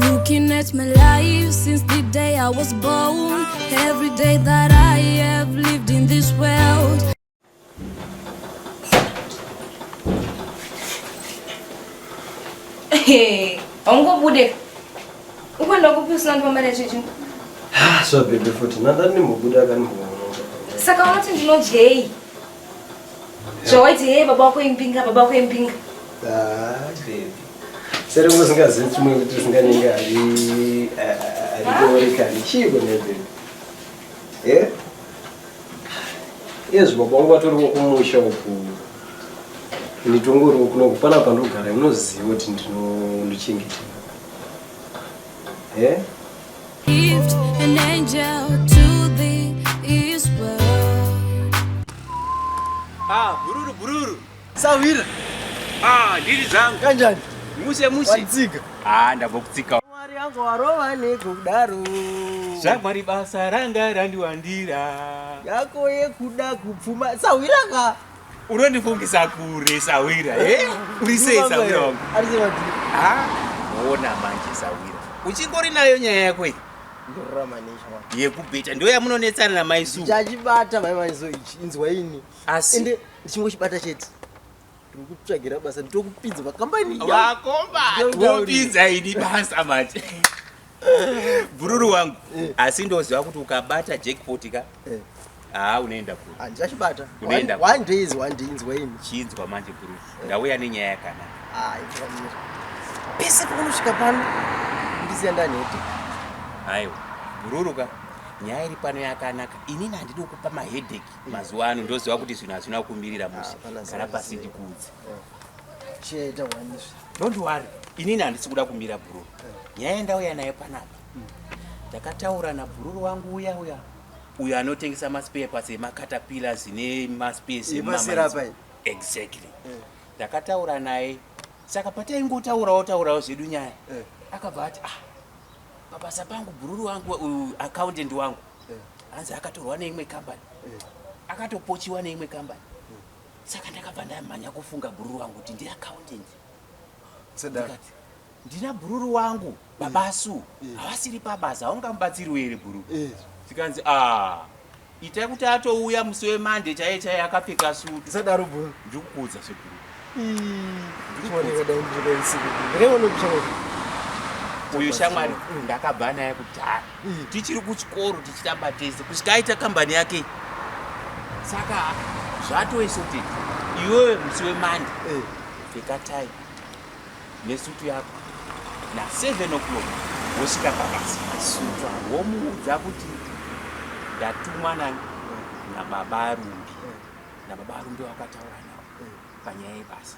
Looking at my life since the day I was born Every day that I have lived in this world Hey, haungobude ukwenda kupi usina ndipambare chichi ah, so beautiful tinadani mubuda kanimboona saka unoti ndinodyei zvawaiti hee baba wako imbinga baba wako imbinga sere usingazivi chimwe kuti usinganenge arikorekani chiiko nebebe e iye zvibaba wangu vatoriwo kumusha uku nditongoriwo kuno kupana pandogara inoziva kuti ndinondichengetera e Ah, bururu bururu. Sawira. Ah, ndiri dzangu. Kanjani? Muse muse. Watsika. Ah, ndabva kutsika. Mwari yangu warova nekudaro. Zvamwari basa ranga randiwandira. Yako yekuda kupfuma. Sawira ka. unondifungisa kure sahwira eh? uri sei sahwira wangu ah, ona manje sahwira uchingori nayo nyaya yako iyi yekubheta ndo yamunonetsana namai su chachibata mai maiso ichi inzwa ini asi ende ndichingochibata chete tiri kutsvagira basa nditokupinza vakambani vakomba wopinza ini basa manje bhururu wangu eh. asi ndoziva kuti ukabata jackpot ka eh. haa ah, unoenda kuri ah, ndichachibata unoenda one day is one day inzwa ini chinzwa manje bhururu eh. ndauya nenyaya yakanaka ah, pese paunosvika pano ndiziya ndanhete aiwa bhururu ka nyaya iri pano yakanaka inini handidi kukupa mahedheki mazuva ano ndoziva kuti zvinhu hazvina kumirira mushe kana pasi ndikuudze Don't worry. Inini handisi kuda kumira bhururu. Nyaya ndauya nayo panapa. Ndakataura nabhururu wangu uya uya. Uyo anotengesa maspare parts emakatapilas nemaspesi emamanzi. Exactly. Eh. Ndakataura naye. Saka pataingotaurawo taurawo zvedu nyaya. Eh. Akabva ati ah pabasa pangu bhururu wangu uh, accountant wangu. Eh. Hanzi akatorwa neimwe company. Akatopochiwa neimwe company. saka ndakabva ndamhanya kufunga bhururu wangu kuti ndi accountant ndikati ndina bhururu wangu baba su havasiri pabasa haungamubatsiriwo here bhururu tikanzi ah itai kuti atouya musi wemande chaiye chaiye akapfeka suti sadaro bhururu ndikukuudza sebhururu uyu shamwari ndakabva naye kudhara umm tichiri kuchikoro tichitamba tese kusvika aita kambani yake saka zvatoisoted iwewe musi wemande eh. pfeka time nesutu yako naseven o'clock wosvika pabasa sutu womuudza kuti ndatumwa nababa arumbi eh. nababa arumbi wakataura nawo eh. panyaya yebasa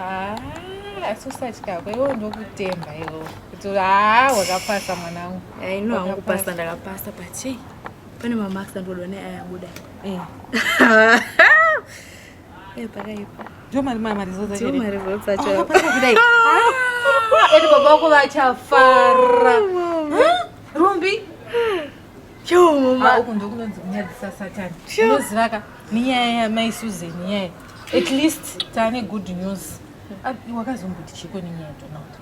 Ah, asi usatya ko iwo ndokutemba iwo kuti haa wakapasa mwanangu aino hangu kupasa ndakapasa pachei pane mamarks andoda ne ayabuda eh. eh, pakaipa ndomari mari zodzaomari zodzachoakudaii ah, ati baba vako vachafara rumbi choma uku ndokunonzi kunyadzisa satani unozivaka nenyaya yamai susan nyaya at least taane good news ah, wakazomboti chiko nenyaya yadonald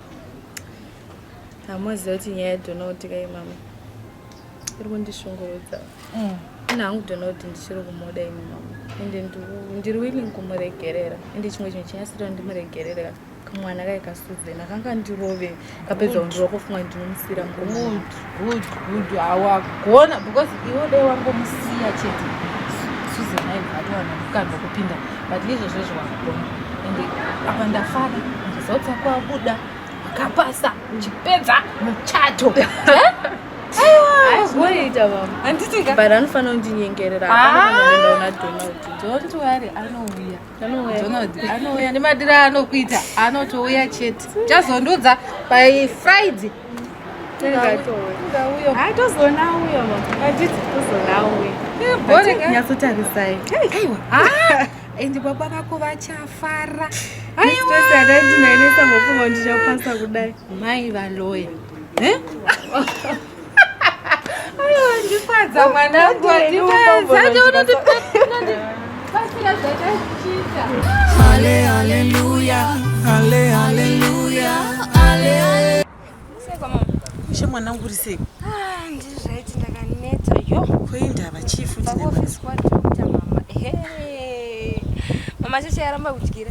hamuziva kuti nyaya yadonald kai mama iri kundishungurudza mm. ina hangu donald ndichiri kumoda imi mama ende ndiri willing kumuregerera ende chimwe chinhu chinyasira ndimuregerera kamwana kaye kasuzen akanga ndirove kapedza undirova kofunga ndinomusira mgod good good awagona because iwe dai wangomusiya chete suzen aibva atowana kukanda kupinda but izvozvo zvewakugona ende apa ndafara ndizotsa kwabuda wakapasa uchipedza muchato aiwaita vama handiti but anofanira kundinyengerera aaaona donald don't worry anouya anouya nemadiro aanokuita anotouya chete chazondiudza by friday tozoona uyo atiti tozoona uyo nyatsotarisai aiwa and baba vako vachafara aiwaadadinainesa ngofunga ndichapasa kudai mai valoya Ndifadza mwanangu, Ishe mwanangu uri sei? Ah, ndiri zvaiti ndakanetsa yo. Ko indava chii futi nema? Office kwa doctor mama. Ehe. Mama shasha yaramba kudyira.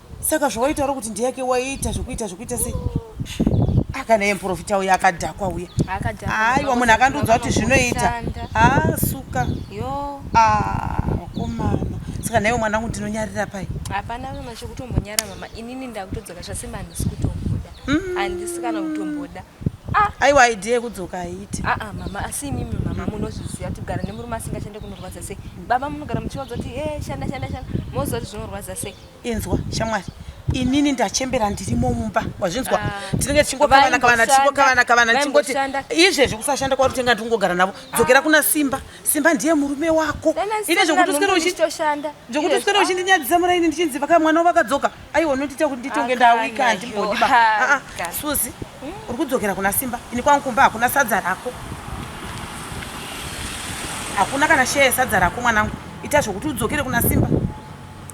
Saka zvawaitaura kuti ndiyake waiita zvekuita zvekuita sei? Ah, kana iye muprofita uya akadhakwa uya. Aiwa munhu akandiudza kuti zvinoita. Ah, suka. Yo. Ah, komana. Saka naiwe mwanangu ndinonyarira pai? Hapana mama chekutombonyara mama. Inini ndakutodzoka zvasema handisi kutomboda. Mm. Handisi kana kutomboda. Ah. Aiwa idea yekudzoka haiti. Ah, ah mama asi imimi mama munozviziva kuti kugara nemurume asingashande kunorwadza sei. Baba munogara muchiwadza kuti eh shanda shanda shanda. Moziva kuti zvinorwadza sei. Inzwa shamwari inini ndachembera ndirimo mumba wazvinzwa ah. tinenge tichingokavana kavana tichingokavana kavana tichingoti izvezvi kusashanda kwari kutenga ndikungogara navo ah. dzokera kuna simba simba ndiye murume wako ine zvekuti uswere uchindinyadzisa muraini ndichinzi vaka mwana wavakadzoka aiwa unondiita kuti nditonge ndawika handimbodiba ah, suzi hmm? uri kudzokera kuna simba ini kwangu kumba hakuna sadza rako hakuna kana sheye sadza rako mwanangu ita zvekuti udzokere kuna simba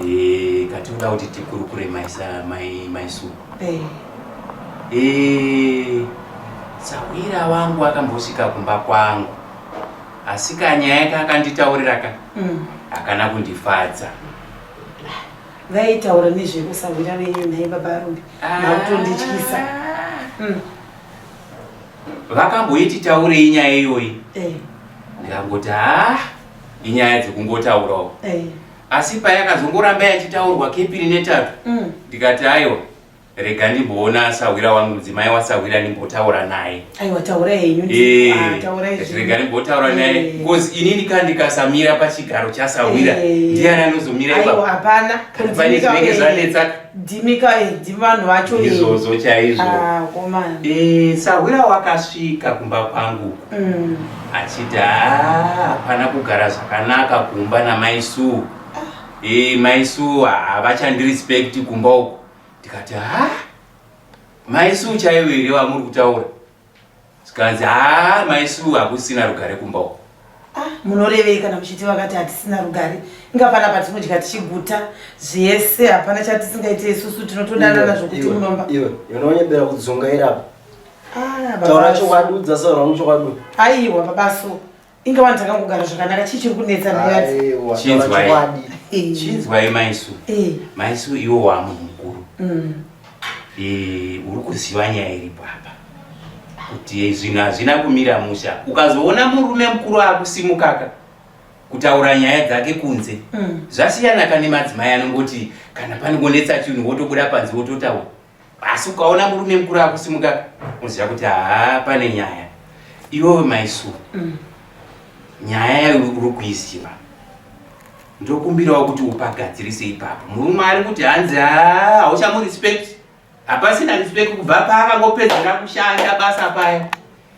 Eh, katinoda kuti tikurukure maisa mai mai su. Eh. Eh, sahwira wangu akambosvika kumba kwangu. Asi kanyaya yake akanditaurira ka. Mm. Akana kundifadza. Vaitaura nezvekusahwira venyu nhai baba Rumbi. Ah. Makutondityisa. Mm. Vakamboiti taurei nyaya iyoyi. Eh. Ndikangoti ah inyaya dzekungotaurawo eh. asi paya akazongoramba yachitaurwa kepiri netatu mm. ndikati aiwa rega ndimboona sahwira wangu mudzimai wasahwira ndimbotaura naye eh, ah, rega ndimbotaura naye eh. bcause ini ndika ndikasamira pachigaro chasahwira ndiani anozomira ipapane zvinenge zvanetsaka Dimika eh, dimi vanhu vacho eh. izvozvo chaizvo ah, komana eh, sahwira wakasvika kumba kwangu mm. achiti ah, hapana kugara zvakanaka kumba namai suu ah. e, mai suu havachandirespect kumba uku ndikati ha mai suu chaivo here vamuri kutaura zvikanzi haa maisu hakusina rugare kumba uko ah, munorevei kana muchiti vakati hatisina rugare inga pana patinodya tichiguta zvese hapana chatisingaite isusu tinotodanana zvokuti munomba iwe unonyebera kudzungaira apa ah, taura chokwadi udza saura unochokwadi aiwa babaso inga vanhu takangogara zvakanaka chii chiri kunetsa nhayadziinzwai maisu maisu iwo wamunhu mukuru mm. eh, uri kuziva nyaya iri papa kuti zvinhu hazvina kumira musha ukazoona murume mukuru akusimukaka kutaura nyaya dzake kunze mm. zvasiyana kane madzimai anongoti kana panongonetsa chinhu wotobuda panze wototaura asi ukaona murume mukuru akusimuka unoziva kuti haa pane nyaya iwewe maisu mm. nyaya yayo uri kuiziva ndokumbirawo kuti upagadzirise ipapo murume ari kuti hanzi haa hauchamurespect hapasina respect kubva paakangopedzera kushanda basa paya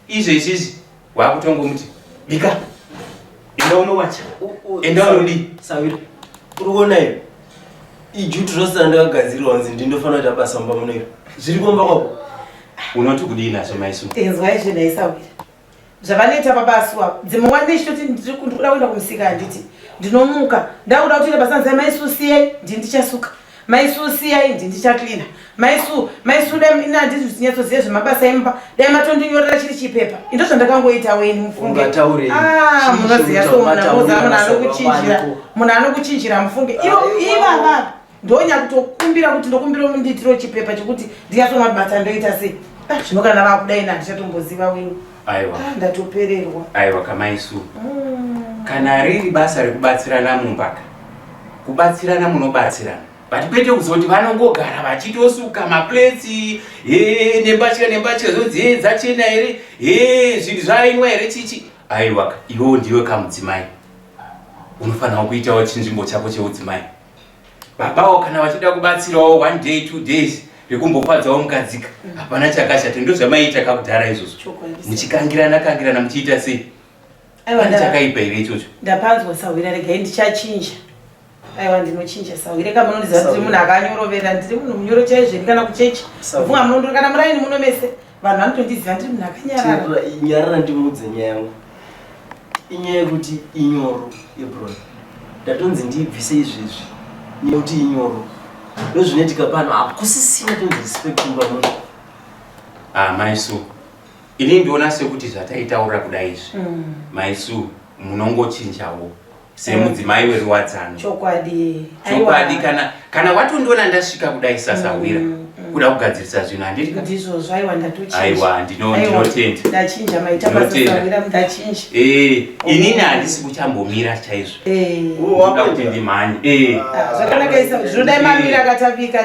Izvo izvizvi wakutongomuti bika enda unowacha enda unodii sawira uri kuona iyo ijuti rose randakagadzirwa hanzi ndindofanira kuita basa mumba muno iro zviri kumba kwako unoti kudii nazvo maisu inzwa izvi ndaisawira zvavanoita baba asuwa dzimwe nguva ndichitoti ndiri kuda kuenda kumusika handiti ndinomuka ndakuda kutoita basa nzai maisu siyei ndini ndichasuka Mai Sue siyai ndi ndicha cleaner. Mai Sue, Mai Sue dai ina handiti zvinyatsoziva zvemabasa emba, dai matondinyorera chiri chipepa. Ndo zvandakangoita weni mufunge. Ungataure. Ah, munoziva so mwana moza mwana anokuchinjira. Mwana anokuchinjira mufunge. Iyo iva baba. Ndonya kutokumbira kuti ndokumbira umunditiro chipepa chekuti ndiyasoma basa ndoita sei. Ah, zvino kana vakudai na ndichatomboziva weni. aiwa ah, ndatopererwa aiwa kamaisu mm. kana riri basa rekubatsirana mumbaka kubatsirana munobatsirana but kwete kuzoti vanongogara vachitosuka mapletsi he nembatya nembatya zodziye dzachena here he zvinhu zvainwa here chichi aiwa iwewo ndiwe kamudzimai unofanira kuitawo chinzvimbo chako cheudzimai babawo kana vachida kubatsirawo one day two days rekumbofadzawo mukadzika mm. hapana chakashata ndo zvamaiita kakudhara izvozvo muchikangirana kangirana muchiita sei pane chakaipa here ichocho ndapanzwa sahwira regai ndichachinja aiwa ndinochinja sahwire ka munondiziva kuti munhu akanyorovera ndiri munhu munyoro chaizveni kana kuchechi funga munondiri kana muraini muno mese vanhu vanotondiziva ndiri munhu akanyarara nyarara ndimudze nyaya yangu inyaya yekuti inyoro ebron ndatonzi ndiibvise izvezvi nekuti inyoro ndozvinoitika pano hakusisina tonzi respect kumba munhu ah, maisu ini ndiona sekuti zvataitaura kuda izvi mm. maisu munongochinjawo semudzimai weruwadzano chokwadi chokwadi kana kana watondiona ndasvika kudai sasahwira mm, mm. kuda kugadzirisa zvinhu handiri ndizvo zvaiwa ndatoaiwa ndinotenda ndachinja maita pasasahwira ndachinja eh inini handisi kuchambomira chaizvo eh kuti ndimhanye eh ah, zvakanaka isa zvinodai mamira akatapika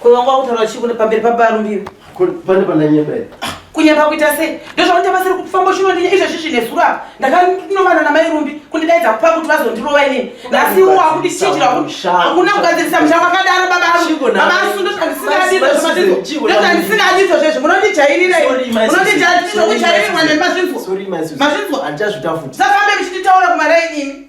Ko wanga wakutaura chii kune pamberi pababa Rumbiro? Ko pane pandanyeba here? Kunyeba kuita sei? Ndozvakuita basa rekufamba uchinondinya izvozvi zvine zuro apa. Ndakanovana namai Rumbi kundidaidza kupa kuti vazondirova inini. Nhasi iwo wakundichinjira hakuna kugadzirisa musha wakadaro baba Rumbi. Baba Asu ndozvandisingadi izvozvo matidzo. Ndozvandisingadi izvozvo izvi munondijairira izvi. Munondijairirwa nemazvinzwa. Mazvinzwa. Safambe muchinditaura kumaraini imi.